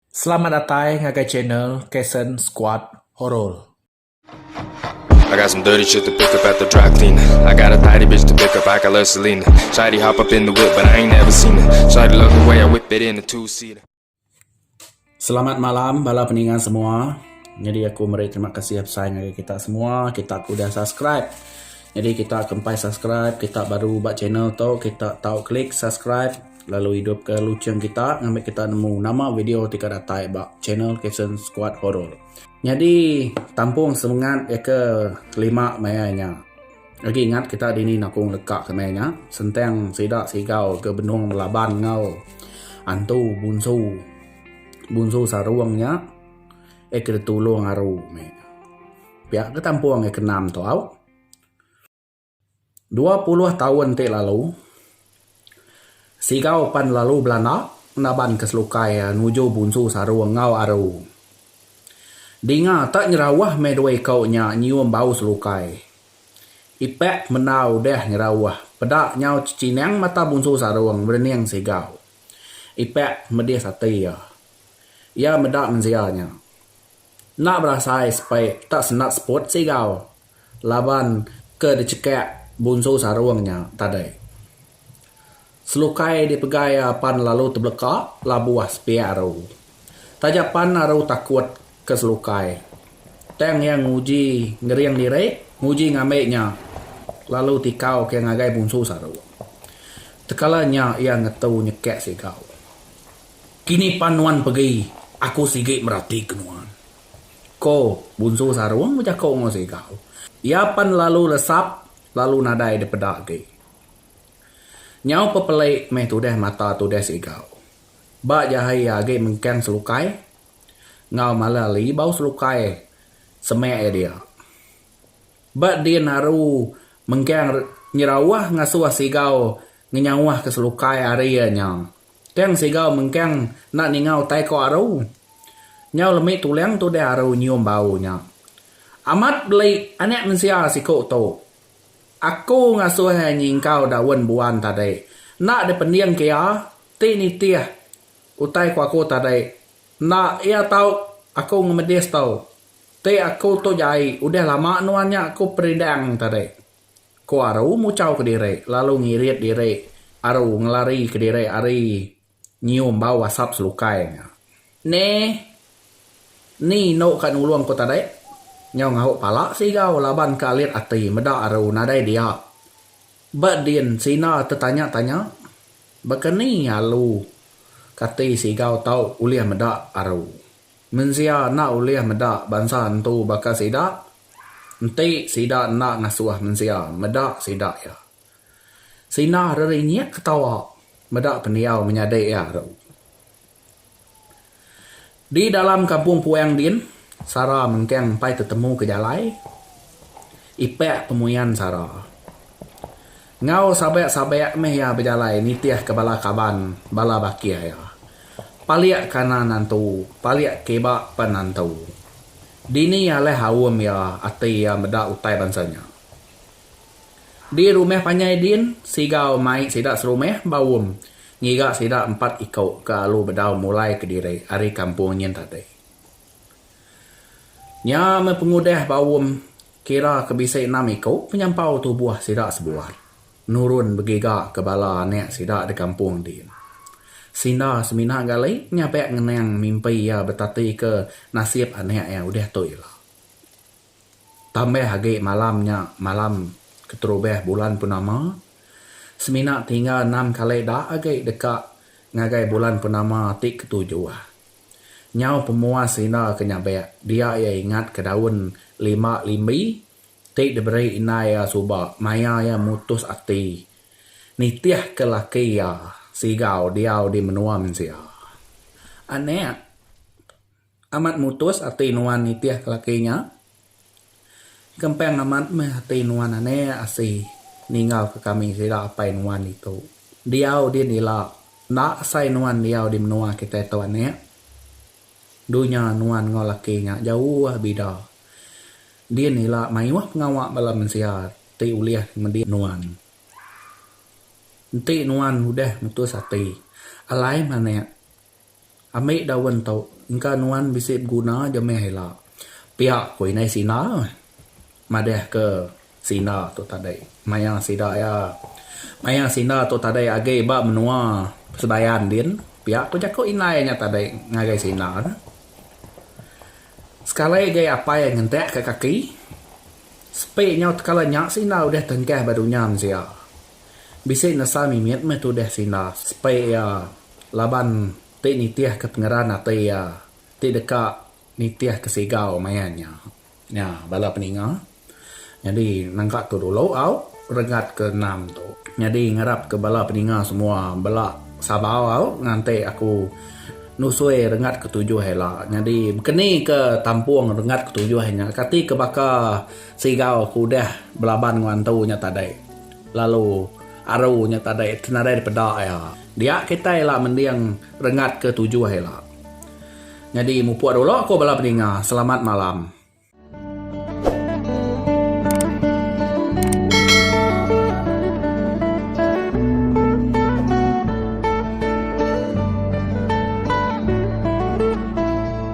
Selamat datai ngagai channel Kason Squad Horor. I got some dirty shit to pick up at the dry clean I got a tidy bitch to pick up, I got love Selena Shawty hop up in the whip but I ain't never seen her Shawty love the way I whip it in a two seater Selamat malam bala peninga semua. Nyadi aku meri terima kasih besai ngagai kita semua kita ke udah subscribe. Nyadi kita ke empai subscribe kita baru ba channel tu kita tau klik subscribe. Lalu idup ke lucheng kita ngambi kita nemu nama video ti ka datai ba channel Kitchen Squad Horror. Nyadi tampung semengat iya ke lima maya nya. Agi ingat kita dini nakong leka ke maya nya sentang sida sigau ke benung belaban enggau antu bunsu bunsu sarong nya iya ke ditulong aru meh. Pia ke tampung iya ke enam tu au. Dua puluh taun ti lalu, Sigau pan lalu belanda naban ke selukai nuju bunsu saru enggau aru. Dinga tak nyerauh meh dua iko nya nyium bau selukai. Ipak menda udah nyerauh, peda nyau cechinang mata bunsu sarung berening Sigau. Ipak medis ati iya. Iya meda mensia nya. Enda berasai sepai tak sendat seput Sigau. laban ke dichekak bunsu sarung nya tadai. Selukai dipegai iya pan lalu tebeleka labuh sepiak aru. Taja pan aru takut ke selukai, tang iya nguji ngering diri, nguji ngambi nya lalu tikau ke ngagai bunsu sarung. Tekala nya iya ngetu nyekak sigau. Kini pan nuan pegi, aku sigi merati ke nuan. Ko Bunsu Sarung bejako enggau Sigau. Iya pan lalu resap lalu nadai dipeda agi. Nyau pepeli meh tudah mata tudah Sigau. Ba jahai iya agi mengkang selukai enggau mala li bau selukai semak iya dia. Ba din aru mengkang nyerauh ngasuh Sigau ngenyauhka selukai ari iya nya Tang siga mengkang enda ninga utai ko aru. Nyau lemi tulang tudah aru nyium bau nya. Amat beli anak mensia siku tu. Aku ngasuh iya nyingkau daun buan tadi. Enda dipending ke iya, ti nitih utai ko aku tadi. Enda iya tau aku ngemedis tu. Ti aku tu jai udah lama nuan nya aku perindang tadi. Ko Aru muchau kediri lalu ngirit diri Aru ngelari kediri ari nyium bau asap selukai nya. Neh. Ni endo ka nulung ko tadi? Nyau ngahu pala Sigau laban ke alit ati meda Aru nadai dia. Ba din Sina tetanya-tanya. Baka ni alu kati Sigau tau ulih meda Aru. Mensia enda ulih meda bansa entu baka sida, enti sida enda ngasuh mensia meda sida iya. Sina rerinyik ketawa meda pendiau menyadi iya tu. Di dalam kampung Puang din, Sara mengkang empai tetemu ke jalai ipak pemuyan Sara. Enggau sabek-sabek meh iya bejalai nitihka bala kaban, bala bakih iya. Palik kanan nantu, palik kiba pen nantu. Dini alih aum iya, ati iya meda utai bansa nya. Di rumah panjai din, Sigau mai sida serumah ba aum ngiga sida empat iku ke alu bedau mulai kediri ari kampung nyin tadi. Nya meh pengudah ba um kira ke bisi enam iku penyampau tubuh sida sebuai nurun begiga ke bala anak sida di kampung ti. Sinda semina gali nyabak ngenang mimpi iya betatika nasib anak iya udah tu ila. Tambah agi malam nya malam keterubah bulan purnama, semina tinggal enam kali da agi deka ngagai bulan purnama ti ketujuh. Nyau pemua Sina ke nyabek dia iya ingat ke daun lima limbi ti diberi indai iya suba maya iya mutus ati nitih ke laki iya Sigau diau di menua mensia. Anek amat mutus ati nuan nitih ke laki nya Gempeng amat meh ati nuan anek asi ninggalka kami sida apai nuan ditu. Diau din ila, enda asai nuan diau di menua kitai tu anek. Dunya nuan enggau laki nya jauh bida. Din ila mayuh pengawa bala mensia ti ulih ngemudi nuan. Enti nuan udah mutus ati, alai meh anek. Ambi daun tu engka nuan bisi beguna aja meh ila. Pia ku indai Sina madahka Sina tu tadi. Maya sida iya maya Sina tu tadi agi ba menua Sebayan din, pia ku jaku indai nya tadi ngagai Sina tu. Sekali agi apai ngentak ka kaki. Sepi nyau tekala nya Sina udah tengkah ba dunya mensia. Bisi nesa mimit meh tudah Sina sepi iya Laban ti nitihka pengeran ati iya, ti deka nitihka sigau maya nya. Nya bala peninga. Nyadi nangka tu dulu au regat ke enam tu. Nyadi ngarapka bala peninga semua bela sabar au nganti aku nusui rengat ke tujuh ila. Nyadi bekeni ke tampung rengat ke tujuh nya kati ke baka sigau aku udah belaban enggau antu nya tadi lalu aru nya tadi nadai dipeda iya. Dia kitai ila mending rengat ke tujuh ila. Nyadi mupuk dulu ko bala peninga selamat malam.